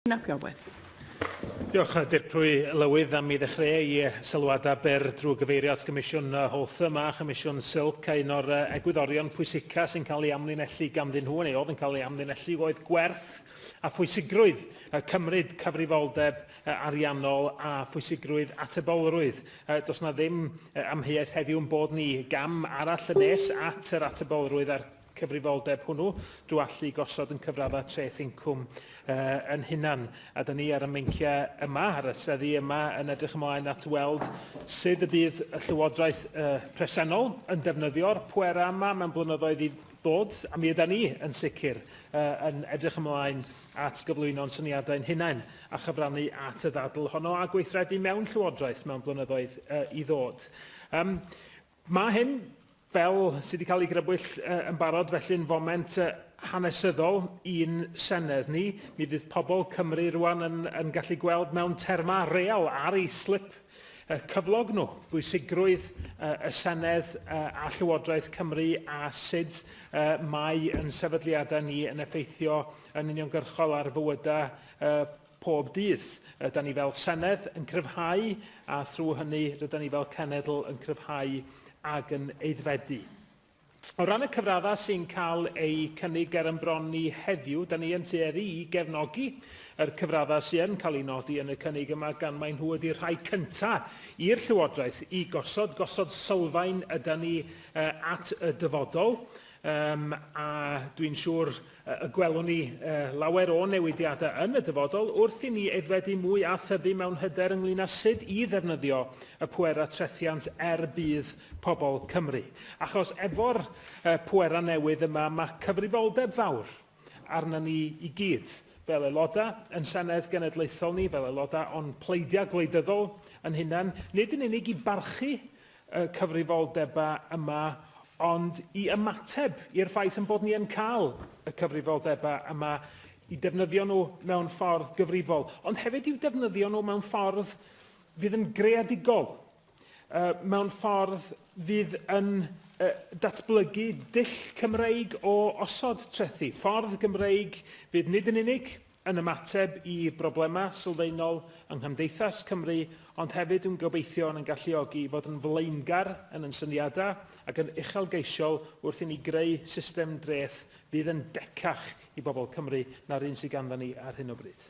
Rhun ap Iorwerth. Diolch, Dirprwy Lywydd, am i ddechreu i sylwadau byr drwy gyfeirio at Gomisiwn Holtham a Chomisiwn Silk a un o'r egwyddorion pwysica sy'n cael ei amlinellu ganddyn nhw, neu oedd yn cael ei amlinellu, oedd gwerth a phwysigrwydd cymryd cyfrifoldeb ariannol a phwysigrwydd atebolrwydd. Does yna ddim amheuaeth heddiw yn bod ni gam arall yn nes at yr atebolrwydd a'r cyfrifoldeb hwnnw drwy allu gosod yn cyfraddau treth incwm uh, yn hunan. A dyn ni ar y meinciau yma, ar y seddi yma, yn edrych ymlaen at weld sut y bydd y llywodraeth uh, presennol yn defnyddio'r pwerau yma mewn blynyddoedd i ddod, a mi yda ni yn sicr uh, yn edrych ymlaen at gyflwyno'n syniadau'n hunain a chyfrannu at y ddadl honno a gweithredu mewn llywodraeth mewn blynyddoedd uh, i ddod. Um, Mae hyn, fel sydd wedi cael ei grybwyll yn barod, felly'n foment hanesyddol i'n Senedd ni. Mi fydd pobl Cymru rwan yn, yn gallu gweld mewn termau real ar ei slip cyflog nhw, bwysigrwydd y Senedd a Llywodraeth Cymru a sut mae yn sefydliadau ni yn effeithio yn uniongyrchol ar fywydau pob dydd. Rydan ni fel Senedd yn cryfhau a thrwy hynny rydan ni fel Cenedl yn cryfhau ac yn aeddfedu. O ran y cyfraddau sy'n cael eu cynnig ger yn bron ni heddiw, da ni yn tueddu i gefnogi yr cyfraddau sydd yn cael eu nodi yn y cynnig yma gan mai nhw ydy'r rhai cynta' i'r Llywodraeth i gosod, gosod sylfaen ydan ni at y dyfodol, a dwi'n siŵr Y gwelwn ni lawer o newidiadau yn y dyfodol wrth i ni aeddfedu mwy a thyfu mewn hyder ynglŷn â sut i ddefnyddio y pwerau trethiant er budd pobl Cymru. Achos efo'r pwerau newydd yma mae cyfrifoldeb fawr arna ni i gyd, fel aelodau yn Senedd Genedlaethol ni, fel aelodau o'n pleidiau gwleidyddol yn hunain, nid yn unig i barchu y cyfrifoldebau yma, ond i ymateb i'r ffaith ein bod ni yn cael y cyfrifoldebau yma, i defnyddio nhw mewn ffordd gyfrifol, ond hefyd i'w defnyddio nhw mewn ffordd fydd yn greadigol, mewn ffordd fydd yn datblygu dull Cymreig o osod trethi, ffordd Gymreig fydd nid yn unig yn ymateb i broblemau sylfaenol yng nghymdeithas Cymru, ond hefyd yn gobeithio yn ein galluogi i fod yn flaengar yn yn syniadau ac yn uchelgeisiol wrth i ni greu system dreth fydd yn decach i bobl Cymru na'r un sydd ganddo ni ar hyn o bryd.